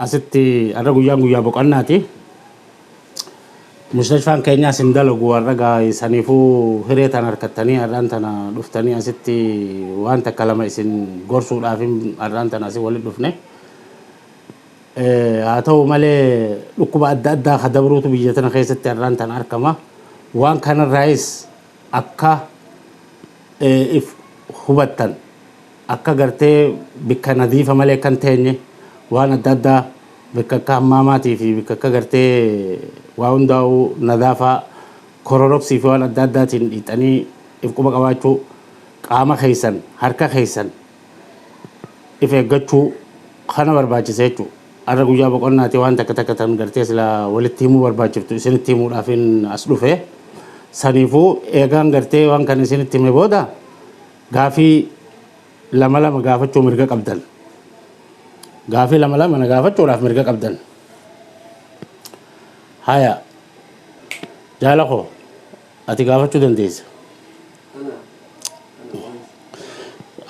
Asitti har'a guyyaan guyyaa boqannaati. Mustashfaan keenyaas hin dalagu har'a gaa saniifuu hiree tan harkattanii har'aan tana dhuftanii asitti waan takka lama isin gorsuudhaafin har'aan tana asi walitti dhufne. Haa ta'u malee dhukkuba adda addaa ka dabruutu biyya tana keessatti har'aan tana argama. Waan kanarraayis akka if hubattan Akka gartee bikka nadiifa malee akka hin teenye, waan adda addaa bikka akka hammaamaatii fi bikka akka gartee waa hundaa'uu nadaafaa kororoksii fi waan adda addaatiin dhiixanii if quba qabaachuu, qaama keessan, harka keessan if eeggachuu kana barbaachisa jechuudha. Har'a guyyaa boqonnaati waan takka takka tan gartee silaa walitti himuu barbaachiftu isinitti himuudhaafin as dhufe. Saniifuu eegaan gartee waan kana isinitti hime booda, Gaafii lama lama gaafachuu mirga qabdan. Gaafii lama lama na gaafachuudhaaf mirga qabdan. Haya. Jaala koo ati gaafachuu dandeessa.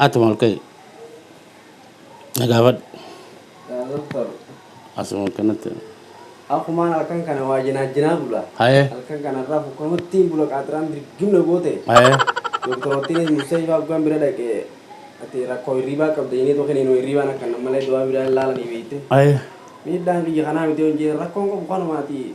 Atuma ol ka'i. Na gaafadhu. Yaa Doktar. Asuma akkanatti. Akkumaan halkan kana waa jinaajjinaa bula. Haye. Halkan kana irraa fukkanuttiin bula qaaxiraan dirgim na goote. Haye. Doktoroottiinis mustashfaa hoggaan bira dhaqe ati rakkoo hirriibaa qabda jennee too kiniinuma hirriibaan akka nan malee dawaa biraa hin laalanii beekte. Haye. Miidhaan kiyya kanaa miti yoon jeen rakkoon qabu kanuma ati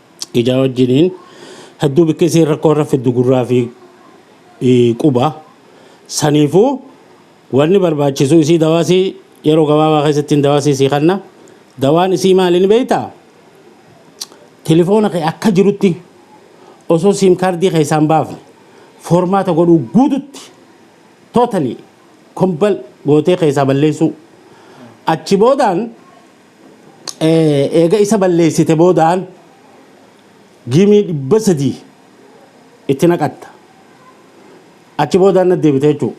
ijaa wajjiniin hedduu bikki isiin rakkoo irra fiddu gurraa fi eh, quba. Saniifuu wanni barbaachisu isii dawaa isii yeroo gabaabaa keessatti hin dawaa isii sii kanna. Dawaan isii maali ni beektaa? Telefoona kee akka jirutti osoo siim kaardii keessaa hin baafne foormaata godhuu guututti totally kombal gootee keessaa balleessuu. Achi boodaan Eega isa balleessite boodaan gimii 300 itti naqatta. Achi boodaan natti deebita jechuudha.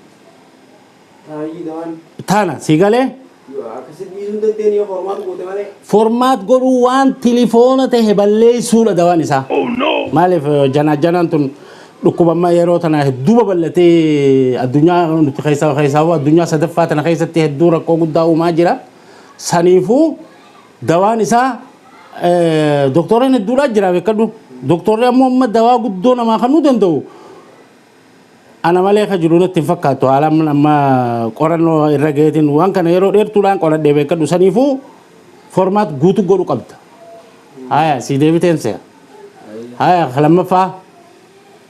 Taayii dawaan. Tana sii galee? Akkasitti dhiisuu hin dandeenye yoo formaat goote malee. Formaat godhuu waan tilifoona tahe balleessuudha dawaan isaa. Maaliif janaajjanaan tun dhukkubamma yeroo tana hedduu babal'atee addunyaa nuti keessaa keessaa addunyaa sadaffaa tana keessatti hedduu rakkoo guddaa uumaa jira. Saniifuu dawaan isaa doktooraan hedduudhaa jira beekadhu. Doktoorri ammoo amma dawaa guddoo namaa kannuu danda'u ana malee akka jiru natti hin fakkaatu haala amma qorannoo irra gaheetiin waan kana yeroo dheertuudhaan qoradhee beekadhu saniifuu formaat guutuu godhu qabda. Haya sii deebiteen se'a. Haya lammaffaa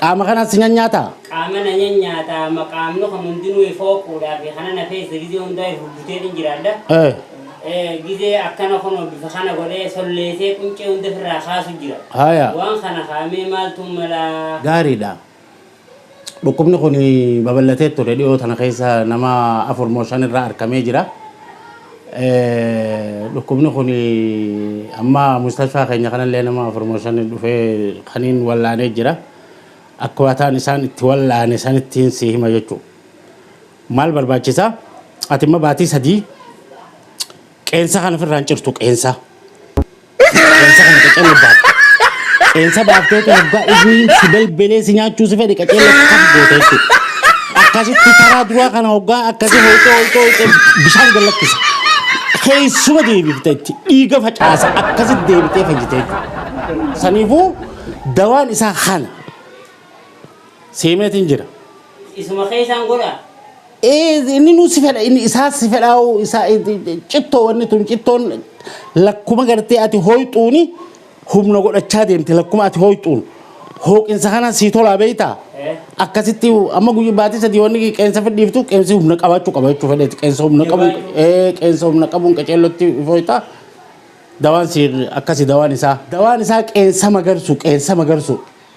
Qaama kanas nan nyaata. Qaama na nan nyaata, amma qaamni kun hundinuu if hooquudhaa fi kana na keessa gizee hundaa if hubbuteetiin jiraadha. Eh. Eh, gizee akkana kunoo bifa kana godhee solleesee quncee hunda ofirraa kaasu jira. Haya. Waan kana kaamee maaltu mala? Gaariidha. Dhukkubni kun babal'atee ture dhiyoo tana keessa nama 4 moo 5 irraa arkamee jira. Dhukkubni kun amma mustashfaa keenya kanallee nama 4 moo 5 dhufee kaniin wallaanee jira. Akkaataan isaan itti wallaane sanittiin si hima jechuudha. Maal barbaachisa? Ati amma baatii 3 Qeensa kana ofirraa hin cirtu qeensa. Qeensa kana qaceellee baafte. Qeensa baaftee kan hoggaa inni si belbelee si nyaachuu si fedhe qaceellee akkam goote jechuudha. Akkasitti karaa duraa kana hoggaa akkasii hooltee hooltee hooltee bishaan gallakkisa. Keessuma deebifte itti dhiiga facaasa akkasitti deebitee fayyite jechuudha. Saniifuu dawaan isaa kana seemeetiin jira. Isuma keessaan godha. Ee inni nu si fedha inni isaa si fedhaa'u isaa cittoo wanni tun cittoon lakkuma gartee ati hooyxuuni humna godhachaa deemte lakkuma ati hooyxuun hooqinsa kana sii tolaa beeytaa Eh. akkasitti amma guyyaa baatii sadii wanni qeensa fidhiiftu qeensi humna qabaachuu qaba jechuu fedheeti qeensa humna qabuun Jabaachuu. ee qeensa humna qabuun qaceellotti fooytaa dawaan sii akkasi dawaan isaa dawaan isaa qeensa magarsu qeensa magarsu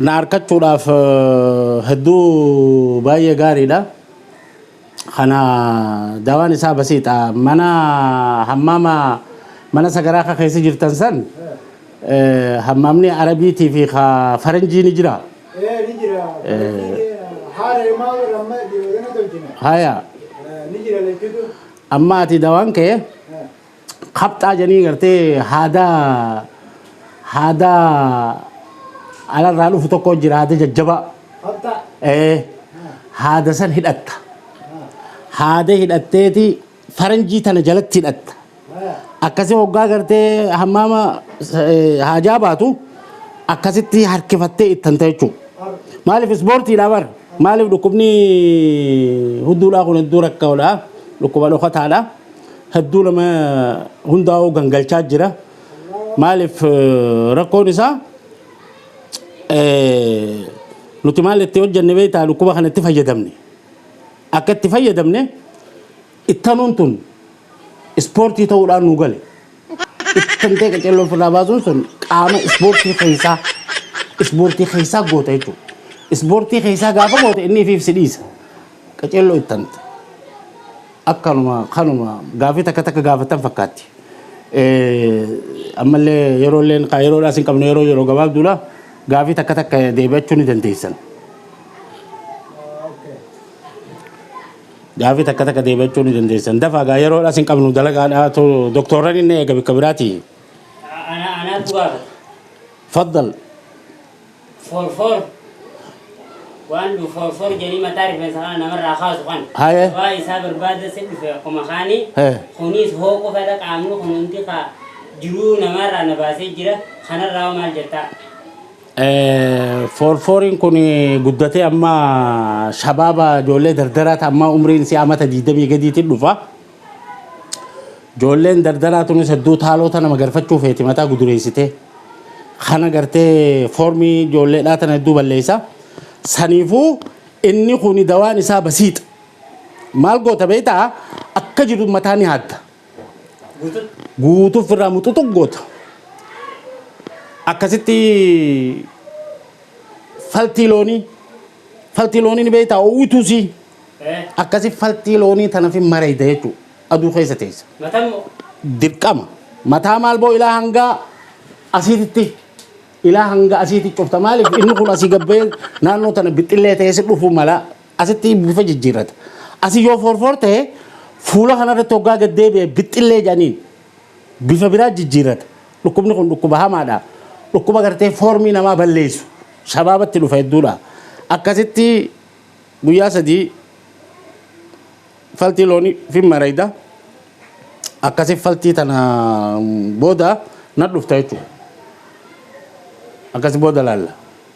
Na arkachuudhaaf hedduu baay'ee gaariidha. Kana dawaan isaa basiixa. Mana hammaama mana sagaraa ka keessa jirtan san hammaamni Arabiitii fi ka Faranjii ni jira. Ee ni jira. Haala himaa warra amma dhiyoodana tolchine. Haya. Ni jira lachuutu. Amma ati dawaan kee kapxaa jedhanii gartee haadaa haadaa alarraa dhufu tokko jira haada jajjabaa. Kapxaa. Ee haada san hidhatta. Haada hidhatteeti faranjii tana jalatti hidhatta. Akkasii hoggaa gartee hammaama eh, haajaa baatu akkasitti harkifattee ittanta jechuudha. Maaliif ispoortiidha bar? Maaliif dhukkubni hudduudhaa kun hedduu rakkoodha? Dhukkuba dhokataadha. hedduu nama hundaa'uu gangalchaa jira. Maaliif rakkoon isaa nuti maal itti hojjenne beektaa dhukkuba kana itti fayyadamne. Akka itti fayyadamne ittanuun tun ispoortii ta'uudhaan nu gale. Itti fantee qaceelloo ofirraa baasuun sun qaama ispoortii keessaa ispoortii keessaa goota jechuudha. Ispoortii keessaa gaafa goote inni ifiif si dhiisa. Qaceelloo itti fanta. Akkanuma kanuma gaafii takka takka gaafatan fakkaatti. Ammallee yeroo illee yeroo dhaas hin qabne yeroo yeroo gabaabduudha gaafii takka takka deebi'achuu ni dandeessan. Gaafii takka takka deebi'achuu ni dandeessan. Dafaa gaa yeroodhaas hin qabnu dalagaadhaatu doktoorran inni eega bakka biraati. Ana anaatu gaafata. Faddal. For for waan du for for jedhanii mataa rifeensa kana namarraa kaasu kana. Haye. Waa isaa barbaada si dhufe akkuma kaanii. He. Kunis hoo qofadha qaamni kun hundi kaa jiruu namaarraa na baasee jira kanarraa hoo maal jettaa? Foorfooriin kun guddatee amma shabaaba ijoollee dardaraa ta ammaa umriin isii amata 20 gadiitiin dhufa. Ijoolleen dardaraa tunis hedduu taaloo tana magarfachuu feeti mataa gudureessitee. Kana gartee foormii ijoolleedhaa tana hedduu balleessa. Saniifuu inni kun dawaan isaa basiixa. Maal goota beektaa akka jiru mataa ni haadda. guutuu ofirraa muxuxu goota. Akkasitti faltii loonii faltii loonii ni beektaa uwwituu sii akkasi faltii loonii tana fi mareeyda jechuudha aduu keessa teessa. Dirqama mataa maal boo ilaa hangaa asiititti ilaa hanga asiitti cufta maaliif inni kun asii gabbee naannoo tana bixxillee ta'ee si dhufuu mala Asitti bifa jijjiirrata. Asi yoo foorfoor ta'e fuula kanarratti hoggaa gad deebi'e bixxillee jedhaniin bifa biraa jijjiirrata. Dhukkubni kun dhukkuba hamaadha. Dhukkuba gartee foormii namaa balleessu. Shabaabatti dhufa hedduudha. Akkasitti guyyaa sadii faltii loonii fi marayda akkasi faltii tana booda na dhufta jechuudha. Akkasi booda laalla.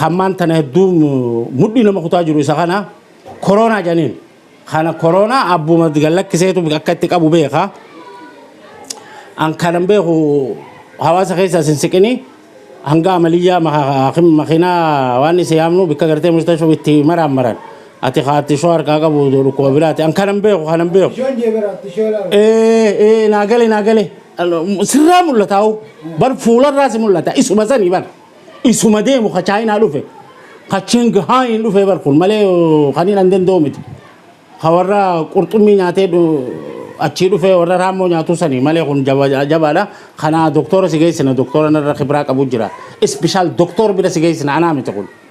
Hammaan tana hedduu mudhii nama kutaa jiru isa kana koroonaa janiin. Kana koroonaa abbuma gallakkiseetu akka itti qabu beeka. An kanan beeku hawaasa keessaa sin siqinii hanga amaliyyaa makiinaa waan isa yaamnu bikka gartee mustashoo itti maraan maran. Ati kaatti shoo harkaa qabu dhukkuba biraati. An kanan beeku kanan beeku. Bishaan jeebera tishoo laala. Ee ee naa gale naa gale. Sirraa mul'ataa'u bar fuularraa si mul'ata isuma sanii bar. Isuma deemu ka Chaayinaa dhufe. Ka Ching Haayiin dhufee bar kun malee oo, kan hin danda'u miti. Ka warra qurxummii nyaatee dhu- achii dhufee warra raammoo nyaatuu sanii malee kun jaba- jabaadha. Kana doktora si geessina doktora narra kibraa qabu jira. Ispeshaal doktor bira si geessina anaa miti kun.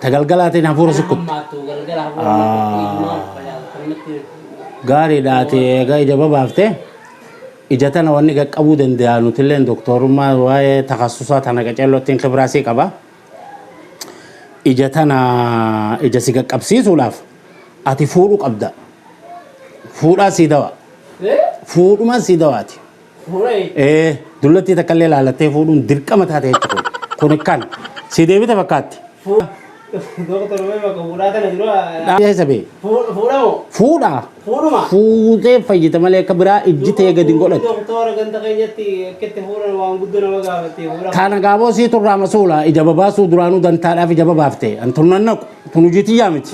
Ta galgalaatiin hafuura Kan sukkutte. hammaattu galgala hafuura Ah. namatti ijumaa facaaftu kan namatti Gaariidha ati egaa ija babaafte ija tana wanni qaqqabuu danda'a nutilleen doktorummaa waa'ee takassusaa tana qacelloottiin kibiraasii qaba. Ija tana ija si qaqqabsiisuudhaaf ati fuudhuu qabda. Fuudhaa sii dawa. Eh? Fuudhuma sii dawaati. Ee, dullattii takkallee laalattee fuudhuun dirqama taate jecha kun. Kun kan si deebite fakkaatti. Dhaabee sabee. Fuudha. Fuutee fayyita malee akka biraa ijji tee gadi hin godhatu. Kana gaaboo sii turraa masuula ija babaasuu duraanuu dantaadhaaf ija babaafte. An turnan naqu. Tun hojii tiyyaa miti.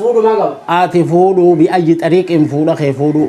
Ati fuudhuu bi ayyi xariiqiin fuudha kee fuudhuu.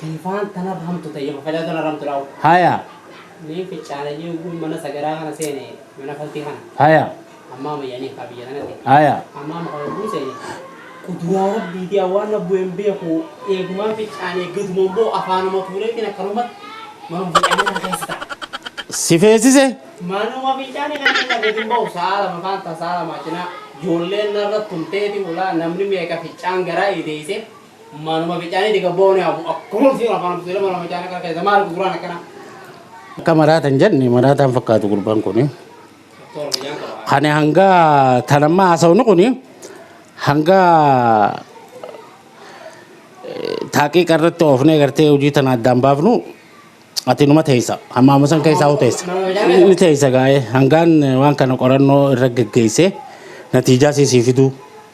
Biifaan tana rahamtu tayya fafadaa tana rahamtu laaw. Haya. Nii fichaana jii uguun mana sagadaa kana seene mana faltii kana. Haya. Ammaa mayyanii kaa biyya tanati. Haya. Ammaa muka uguun seene kuduraa rabbiitii awwaan na bu'een beeku eegumaan fichaanee gaduman boo afaanuma tuureetiin akkanumatti manuma fichaanee kana keessa ta'a. Si feesise? Manuma fichaanee kana keessa gadin ba'u sa'a lama faan ta sa'a lama cinaa joolleen narra tumteeti hulaa namni meeqa fichaan garaa ideeyse. Manuma bicaanii diga boone hafu akkuma fi afaan butu ilma nama bicaanii kana keessa maal gurguraan akkana. Akka maraatan jenni maraataan fakkaatu gurbaan kuni. Toora biyyaan qaba. Kani hanga tanammaa haasawni kuni hanga taaqiiqa irratti oofnee gartee hojii tana addaan baafnu ati numa teessa hammaama san keessaa hoo teessa ni teessa gaa'ee hangaan waan kana qorannoo irra geggeessee natiijaa siisii fiduu.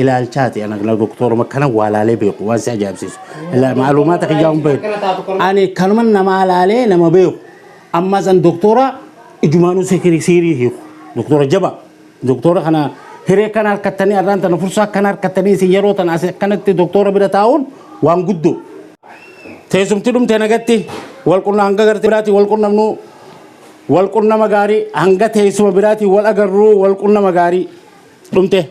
ilaalchaati ana kana doktoruma kana waa laalee beeku waan si ajaa'ibsiisu Ila- maalumaata kiyyaa hin beeku ani kanuma namaa laalee nama beeku amma san doktora ijumaanuu sikirii siirii hiiku doktora jaba doktora kana hiree kana harkattanii arraan tana fursaa akkana harkattanii isin yeroo tana asi akkanatti doktora bira taa'uun waan guddoo teessumti dhumte nagatti wal qunna hanga gartee biraatiin wal qunnamnu wal qunnama gaarii hanga teessuma biraatiin wal agarru wal qunnama gaarii dhumte.